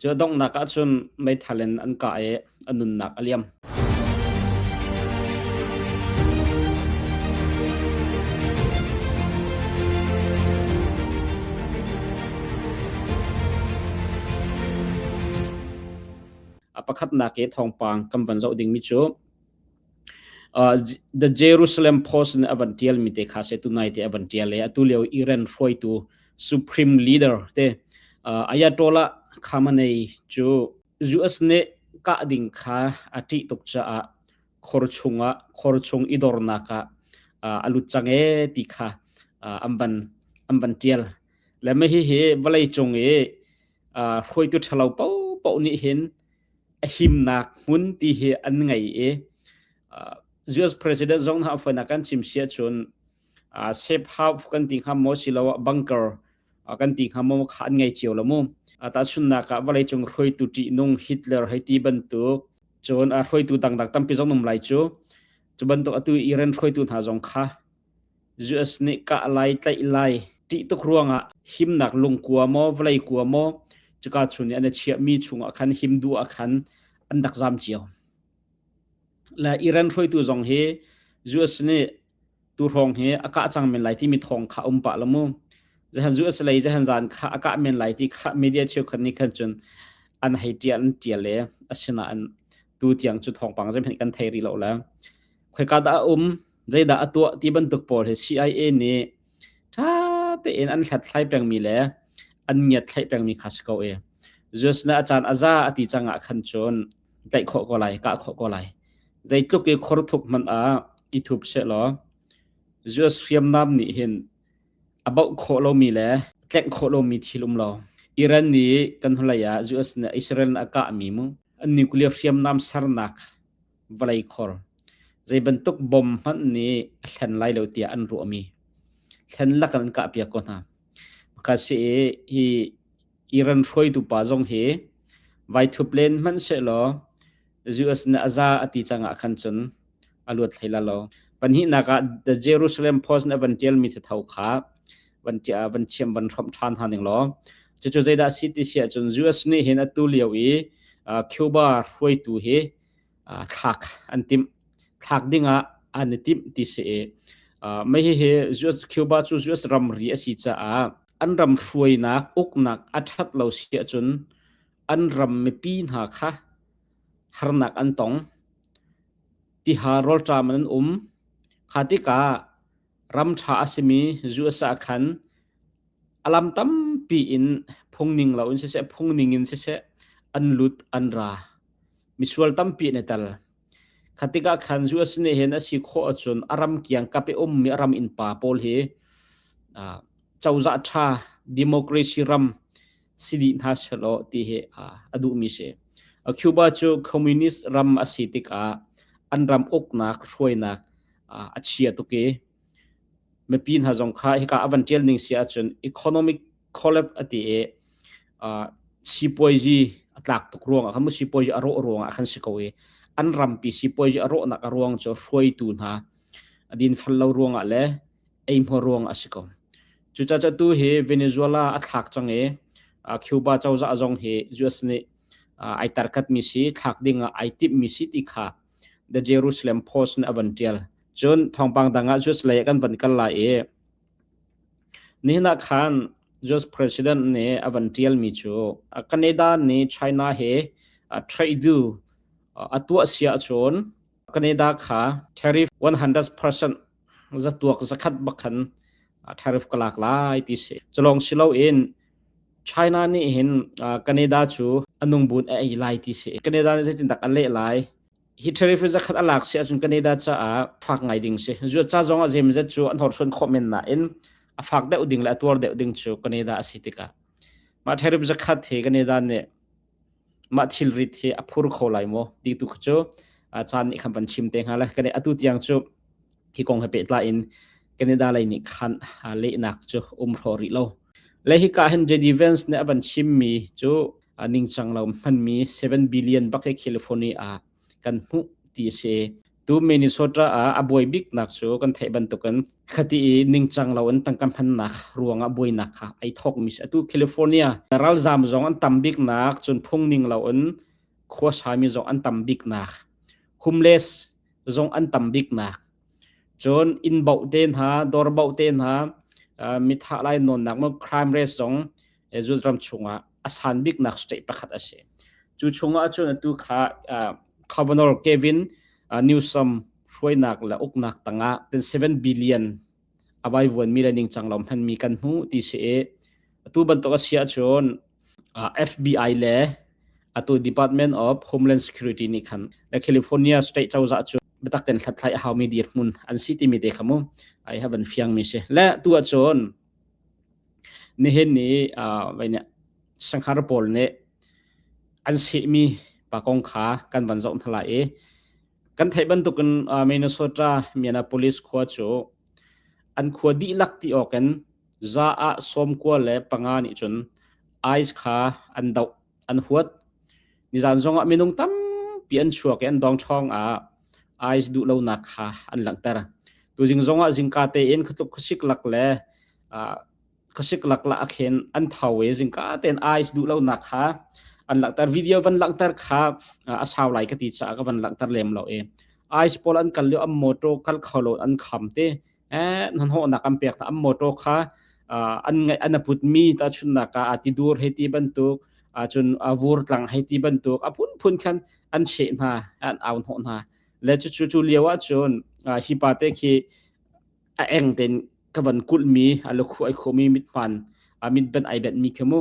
Cu a donghnak ah cun meithal in an kah i a nunnak a liam. A pakhatnak i thawngpang kan van zoh dingmi cu The Jerusalem Post nih a van tialmi te kha se tunai te a van tial i atu lio Iran hruaitu supreme leader te ayatollah Khamenei cu US nih kah ding kha a ṭih tuk caah khor chungah khor chung i dornak ah a lut cang e ti kha an van an van tial le mah hihi vawlei cung i hruaitu ṭhalo paohpaoh nih hin a himnak hmun ti hi an ngei i US president zong hna a foinak kan chim si ahcun safe house kan ti hnga maw siloah bunker kan ti hnga maw kha an ngei cio lo mu tahchunnak ah vawleicung hruaitu ṭihnung Hitler hei ti bantuk cun hruaitu dangdang tampi zong um lai cu cu bantuk atu Iran hruaitu hna zong kha US nih kah lai tlaih lai ṭih tuk ruangah himnak lungkua maw vawlei kua maw cuka chun i an i chiahmi chungah khan him duh ah khan an rak zam cio. La Iran hruaitu zong hi US nih tu hrawng hi a kah cang men lai timi thawng kha um pah lo mu. Zehan US lei zehan zan kha a kah men lai ti kha media cheu khan ni khan cun an hei ṭial an ṭial le asina an tu tiang cu thawngpang zeihmanh kan thei rih lo la. Khoi ka da um zeidah a tuah ti bantuk pawl hi CIA nih ṭha tein an hlathlai pengmi le an ngiatthlaih pengmi kha si ko i Zeus nih a caan a za a ti cangah khan cun tlaih khawh ko lai kah khawh ko lai zeitluk i khor thuk hmanh ah i thup se law Zeus hriamnam nih hin a bauh khawh lomi le tlengh khawh lomi thil um lo Iran nih kan hnulei ah Zeus nih Israel nih a kahmi mu an nuclear hriamnam sernak vawlei khor zei bantuk bom hmanh nih a hlen lai lo tiah an ruahmi thlen lak in an kah piak ko hna ka si hi Iran hruaitu pa zong hi vai thup len hmanh se law US na aza ati changah khan chun aluat thlaila lo panhi naka the Jerusalem post na van tial mi the thau kha van tia van chiam van hrom than ha ning lo chu chu zaida city sia chun US ni hin atu lio i Cuba hruaitu hi thlak an timh. Thlak dingah an i timh ti si i mei hihi Cuba cu US ramri a si caah an ram hruainak uknak a ṭhat lo si ahcun an ram mipi hna kha harnak an tong. Tiha rawlṭam in an um. Kha tikah Ram ṭha a simi zu a sah khan a lam tampi in phungning loin siseh, phungning in siseh an lut an ra. Misual tampi an i tel. Khatikah khan zu a si ne hen a si khawh ahcun a ram kiang kap i ummi a ram innpa pawl hi uh, cozah ṭha, democracy ram si dih hna selaw ti hi a duhmi si. Cuba cu communist ram a si tikah an ram uknak hruainak a chia tuk i mipi hna zong kha hika avan tial ning si ahcun economic collapse ati i sipuaizi a tlak tuk ruang ah khan sipuaizi a rawh ruang ah khan si ko i an rampi sipuaizi a rawhnak a ruang cu hruaitu hna a din fal lo ruang ah le eihmuar ruang a si ko. Cucaah tu hi Venezuela a thlak cang i Cuba cozah zong hi US nih ai tarkat mi si thlak ding ah ai timh mi si ti kha The Jerusalem Post nih a van tial. Cun thawngpang dang ah US lei kan van kal lai i nihna khan US president nih a van tial mi cu Canada nih China he trade du a tuah sia chun Canada kha tariff 100% zatuak zakhat bakhan tariff ka lak lai ti si culong silo in China nih hin Canada cu anung bun a ei lai ti si Canada nih zeitin dak an leh lai hi tariff zakhat a lak si ahcun Canada caah fak ngai ding si zuat ca zong ah zemzet cu an hor suan khawh men na in a fak deuh ding le a tuar deuh ding cu Canada a si tikah mah tariff zakhat hi Canada nih mah thilrit hi a phur kho lai maw ti tu cu caan nih khan van chim te hnga le kan atu tiang cu hi kong he pehtlai in Canada lei nih khan lehnak cu um hro rih lo le hi ka hin JD Vance nih a van chim mi cu ningcang lo hmanmi 7 billion bak hi California kan hmuh ti a si tu Minnesota ah a buai biknak cu kan theih bantukin khati i ningcang lo in tangka hmannak ruang ah buainak kha ai thawk mi si atu California ralzam zong an tam biknak cun phung ning lo in khua sami zong an tam biknak homeless zong an tam biknak cun inn bauh te hna dor bauh te hna mi thah lai nawnnak mu crime rate zong Israel ram chungah a san biknak state pakhat a si. Cu chungah cun atu kha Governor Kevin Newsom hruainak le uknak tangah ten 7 billion a vai vuan mi le ningcang lo hman mi kan hmu ti si i atu bantuk a si ahcun FBI le atu Department of Homeland Security nih khan le California state cozah cu biatak ten hlathlai a hau mi dir hmun an si timi te kha mu ai havan fiang mi si le tu ahcun Nihin ni uh, vainih sanghar pawl nih an sehmi pa kong kha kan van zoh thalai i kan theih bantuk in uh, Minnesota Minneapolis khua cu an khua dihlak ti awk in za ah sawmkua le panga nih cun ice kha an doh an huat. Nizan zongah minung tampi an chuak i an dong ṭhawng ah ais duh lonak kha an langhter. Tuzing zongah zingka tein khutluk khusik lak le uh, khusik lak la akhen an tho i zingka tein ais duh lonak kha an langhter video van langhter kha a sau lai ka ti cha ka van langhter lem lo e ais pol an kal lio am motor kal kholo an kham te eh nan hawhnak an pek ta am motor kha an ngaih an aput mi ta chunnak ka ati dur he ti bantuk cun vur tlang he ti bantuk apun phun khan an she hna an aun ho hna le chu chu chu liawa chun hi pa te khi a eng ten ka van kul mi alo khu ai khomi mit man amit ben ai ben mi khamu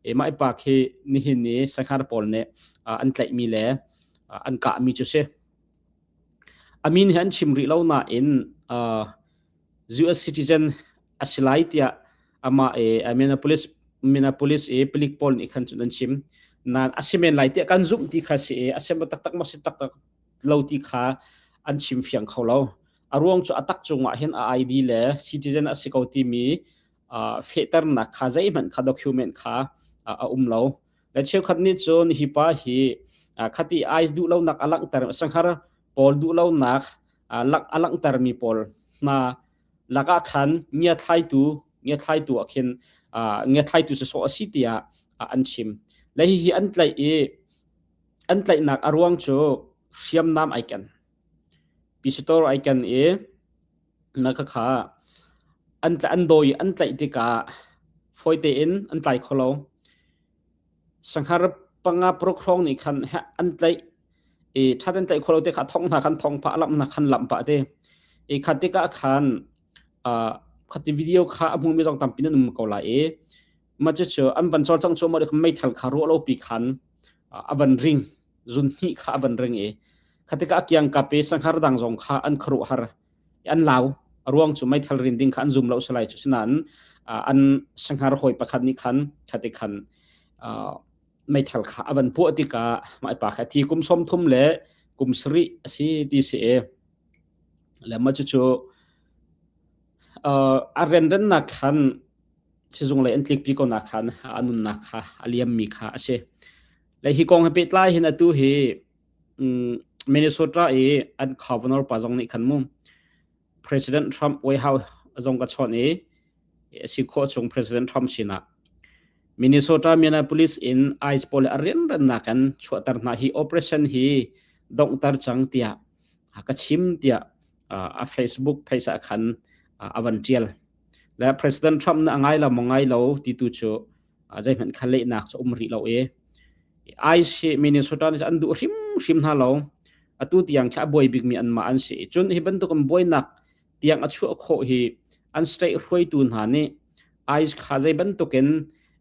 e mai pa khi ni hin ni sakhar pol ne an tlai mi le an ka mi chu se A min hi an chim rih lo nain uh, US citizen a si lai tiah amah e a Minneapolis Minneapolis i pelik pawl nih khan cun an chim nan a si men lai tiah kan zumh ti kha si i a sem taktak ma si taktak lo ti kha an chim fiang kho lo a ruang cu a tak cungah hin a ID le citizen a si ko timi uh, fehternak kha zeihmanh kha document kha uh, a um lo Dan cheukhat nih cun hi pa hi khati ai duh lonak a langhter sanghar pawl duh lonak a langhtermi pawl hna lakah khan ngia thlaitu ngia thlaitu ah khin ngia thlaitu su sawh a si tiah an chim le hihi an tlaih i an tlaihnak a ruang cu hriamnam ai ken Pistor ai ken i na khakha an an daw i an tlaih tikah fawi tein an tlai kho lo. Sanghar panga paruk hrawng nih khan heh an tlaih i that an tlaih kho lo ti kha thong hna khan thong pah, a lamh hna khan lamh pah ti. I kha tikah khan ah kha ti video kha a hmumi zong tampi nan um ko lai i ma cu cu an van cawlcang cu maw meithal kha ruah lo pi khan a van ring zun hnih kha a van ring i khatika a kiang ka pe sanghar dang zong kha an kharu har an lau ruang cu meithal rin ding kha an zum lo salai cu sinain an sanghar hoi pakhat ni khan khate khan meithal kha avan puah tika mai pa kha thi kum som thum le kum sri asi ti si e le ma chu chu a ren ren nak khan sizung lei an tlikpi ko nak kha a nunnak kha a liammi kha a si le hi kong he pehtlai hin atu hi Minnesota i an governor pa zong nih khan mu President Trump White House zong ka chon i si kho chung President Trump sinah Minnesota Minneapolis in ice pole arian ran nak kan chuatar na hi operation hi dongtar chang tia ka chim tia a Facebook phaisa khan avan tial le President Trump na ngai lo maw ngai lo ti tu cu zeihmanh kha lehnak cu um rih lo i ai si Minnesota nih an duh hrim hrim hna lo atu tiang khi a buai bikmi an mah an si cun hi bantuk an buainak tiang a chuah khawh hi an state hruaitu hna nih ai kha zei bantukin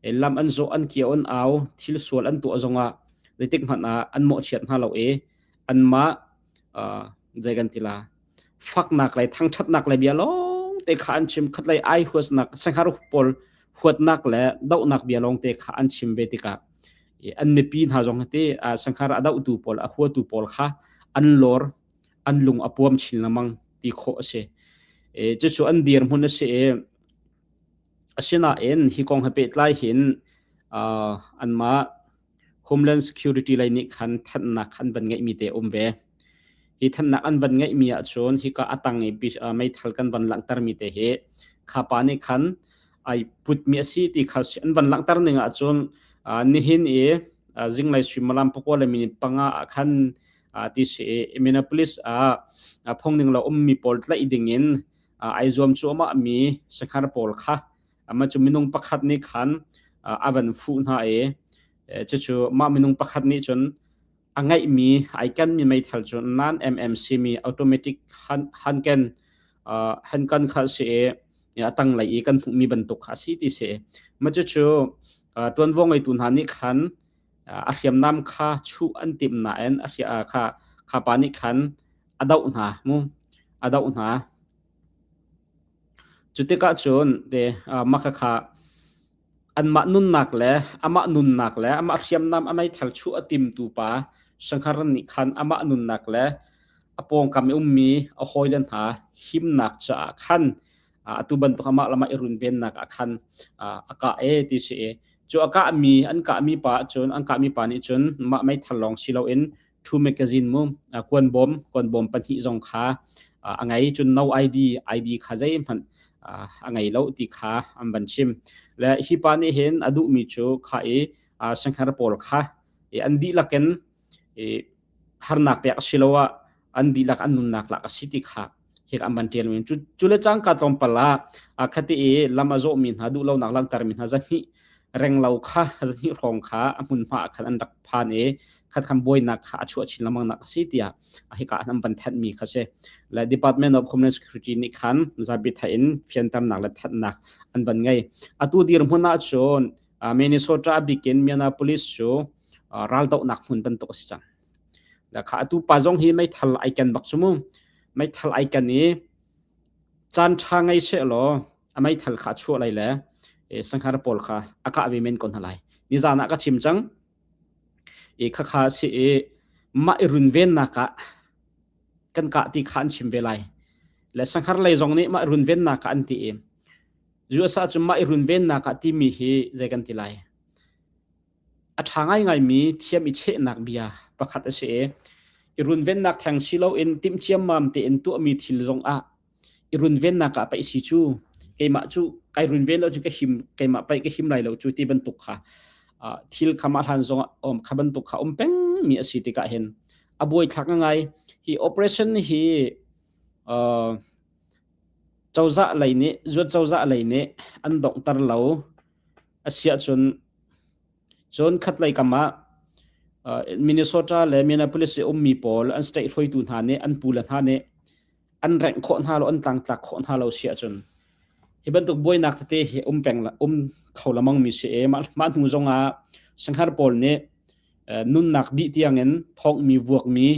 lam an zo an kia on au thil sual an tuah zongah zeitik hmanh ah an mawh chiat hna lo i an mah zei kan tila faknak le thangthatnak le bia lawngte kha an chim khat lei ai huasnak sanghar pawl huatnak le dohnak bia lawngte kha an chim ve tikah an mipi hna zong hati sanghar a dohtu pawl a huatu pawl kha an lor an lung a puam chin lamang ti kho ase e chu chu an dir mun ase e asina en hi kong ha pe tlai hin an ma Homeland Security lei nih khan thanhnak an van ngeihmi te um ve. Hi thanhnak an van ngeihmi ahcun hika atang i meithal kan van langhtermi te hi khapa nih khan ai putmi asi ti kha an van langhter ning ahcun nihin i zinglei suimilam pakua le minit panga ah khan ti si Minneapolis ah phungning lo ummi pawl tlaih dingin ai zuam cuahmahmi sanghar pawl kha ama cu minung pakhat nih khan a van fuh hna i cucu mah minung pakhat nih cun a ngeihmi ai kenmi meithal cu nan MMC mi automatic hanken hankan kha si i a tanglei i kan hmuhmi bantuk a si ti si ma cu cu tuanvo ngeitu hna nih khan a hriamnam kha chuh an tim na en a kha khapa nih khan a doh hna mu a doh hna Cu tikah cun ti makhakha anmah nunnak le amah nunnak le amah hriamnam a meithal chuh a timtu pa Shangharan nih khan amah nunnak le a pawngkam i ummi a hawile hna himnak caah khan atu bantuk amah le amah i runvennak ah khan a kah e ti si i cu a kahmi an kahmi pa cun an kahmi pa nih cun mah meithal lawng si loin thu magazine mu kuan bawm kuan bawm pahnih zong kha a ngai cun no ID ID kha zei hmanh a ngei lo ti kha an van chim le hi pa nih hin a duh mi cu kha i sankhar pawl kha an dihlak in harnak pek siloah an dihlak an nunnak lak a si ti kha hik an ban tian cu cu le cangka tlawmpal ah khati i lam a zawh mi hna duh lonak langhter mi hna zahni renglo kha zahni hrawng kha a hmun hma khan an rak phan i khat khan buainak kha a chuah chin lamang nak asi tiah hika an ban that mi kha se la department of human security ni khan zabi tha in fianternak le thatnak an ban ngai atu dir hmuna chun minnesota bikin miana police chu raldo nak hmun bantuk asi chang Lakha atu pa zong hi meithal ai ken bak cu mu. Meithal ai ken i caan ṭha ngei seh law a meithal kha a chuah lai le e, sanghar pawl kha a kah ve men ko hna lai. Nizaan ah ka chim cang. I khakha si i mah i runvennak ah kan kah ti kha an chim ve lai. Le sanghar lei zong nih mah i runvennak ah an ti i USA cu mah i runvennak ah timi hi zei kan ti lai? A ṭha ngaingaimi thiam i chehnak bia pakhat a si i i runvennak theng si loin timh ciammam tein tuahmi thil zongah i runvennak ah paih si cu keimah cu kai runven lo cu ka him keimah paih ka him lai lo cu ti bantuk kha uh, thil khamah hlan zong um kha bantuk kha um pengmi a si tikah hin a buaithlak ngai hi operation hi uh, cozah lei nih zuat cozah lei nih an donghter lo asiah cun cun khatlei kam ah Minnesota le Minneapolis i ummi pawl an state hruaitu hna nih an pule hna nih an rengh khawh hna lo an tlangtlak khawh hna lo siah cun hi bantuk buainak tete hi um peng um kho lamang mi si e mah hnu zong ah sanghar pawl nih nunnak dih tiang in thawngmi vuakmi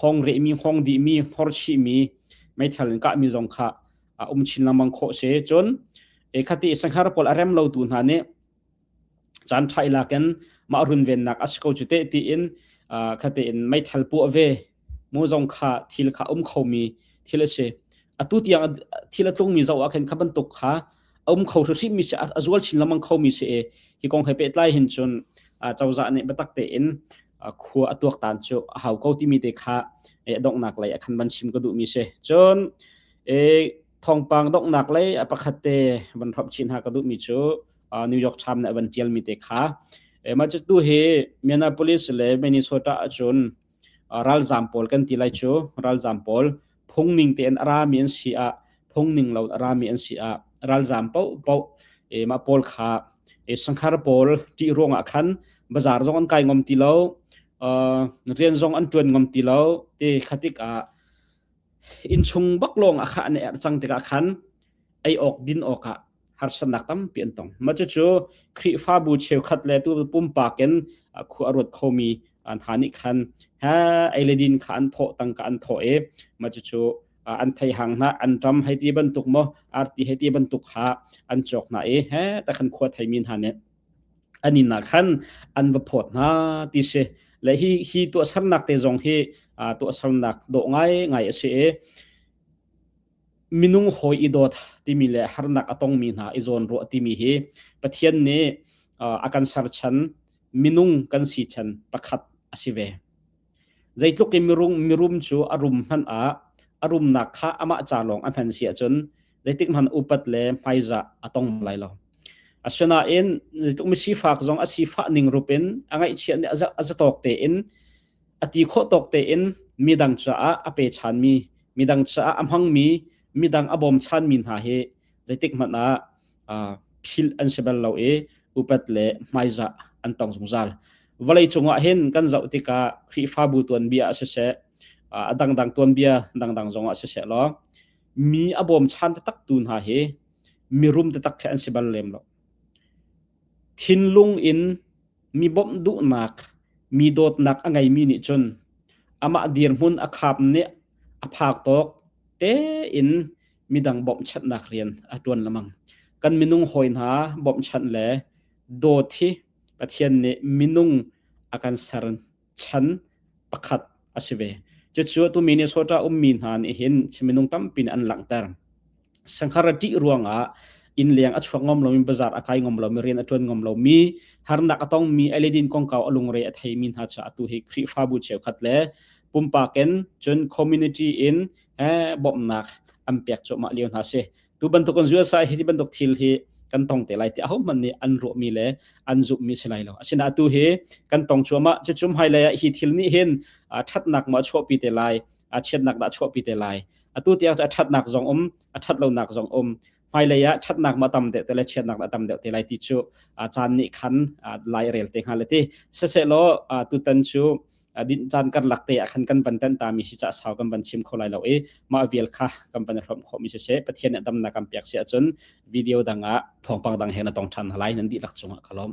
hawng rehmi, hawng dihmi, hor chihmi, meithal in kahmi zong kha a um chin lengmang khawh si. Cun ekhati sanghar pawl a rem lo tu hna nih caan ṭha i lakin mah runvennak a si ko cu te tiin khate in meithal pu ve mu zong kha thil kha um khomi thil a si. Atu tiang thil a tlungmi zoh ah khin kha bantuk kha a um kho hrim mi si a zual chin lamang kho mi si e hi kong he pehtlai hin cun cozah nih biatak tein khua a tuak tan cu a hau ko ti mi te kha donghnak lei a khan ban chim ka duh mi si cun thawngpang donghnak lei a pakhat te van hrop chin ha ka duh mi cu New York Times nih a van tial mi te kha mah cu tu hi Minneapolis le Minnesota ahcun ralzam pawl kan ti lai cu ralzam pawl phungning tein a rami an si ah phungning lo a rami an si ah ralzam paohpaoh e mah pawl kha e sanghar pawl ṭih ruangah khan bazar zong an kai ngom ti lo uh, rian zong an ṭuan ngom ti lo te khatik ah innchung bak lawng a kha ne er cang tikah khan ei awk din awkah harsatnak tampi an tong. Mah cucu Khrihfabu cheukhat le tu pumpak in khua a ruat khomi an ha nih khan ha eiledin kha an thawh tangka an thawh i mah cucu an thei hang na an ram hei ti bantuk mo arti hei ti bantuk ha an chok na i he ta khan khua thei min ha ne ani na khan an va phot na ti se le hi hi to sarnak te zong hi to sarnak do ngai ngai ase e minung hawi i dawt timi le harnak a tongmi hna i zawn ruah timi hi Pathian nih a kan serchan minung kan si chan pakhat a si ve. Zeitluk in mirum mirum cu a rum hman ah a rumnak kha amah ca lawng a hman si ahcun zeitik hman upat le hmaizah a tong lai lo. Asinain zeitluk mi sifak zong a sifah ning rupin a ngaihchiah nih a zatawk tein a ti khawh tawk tein midang caah a pe ṭhanmi midang caah a hmangmi midang a bawm ṭhanmi hna hi zeitik hmanh ah philh an si bal lo i upat le hmaizah an tong zungzal vawlei cungah hin kan zoh tikah Khrihfabu tuanbia ah siseh a dangdang tuanbia dangdang zongah siseh law mi a bawm ṭhan taktaktu hna hi mirum taktak khi an si bal lem lo Thinlung in mi bawmh duhnak, mi dawtnak a ngeimi nih cun amah dirhmun a khap nih a phak tawk tein midang bawmhchanhnak rian a ṭuan lemang. Kan minung hawi hna bawmhchanh le dawt hi Pathian nih minung a kan ser. chan pakhat a si ve cucu atu mi nih sawta ummi hna nih hin minung tampi nih an langhter sanghar a ṭih ruangah inn leng a chuak ngom lomi bazar a kai ngom lomi rian a ṭuan ngom lomi harnak a tongmi aledin kongkau a lungre a theimi hna cu atu hi khrihfabu cheukhat le pumpak in cun community in eh, bawmhnak an pek cuahmah lio hna si tu bantuk kan USA hi ti bantuk thil hi kan tong te lai ti ahohmanh nih an ruahmi le an zumhmi si lai lo asina atu hi kan tong chuama cu cum hai lei hi thil nih hin thatnak ma chuahpi te lai chiatnak da chuahpi te lai atu tiang a thatnak zong um a that lonak zong um hmailei ah thatnak ma tam deuh te le chiatnak da tam deuh te lai ti cu caan nih khan lai rel te hnga le ti sese law tutan cu adin caan karlak te ah khan kan van tan ta mi si ca sau kan van chim kho lai lo i mah vial kha kan van hrom kho mi si se pathian nih damna kan pek si ahcun video dang ah thawngpang dang he na tong than halai nan di lak chung ah ka lom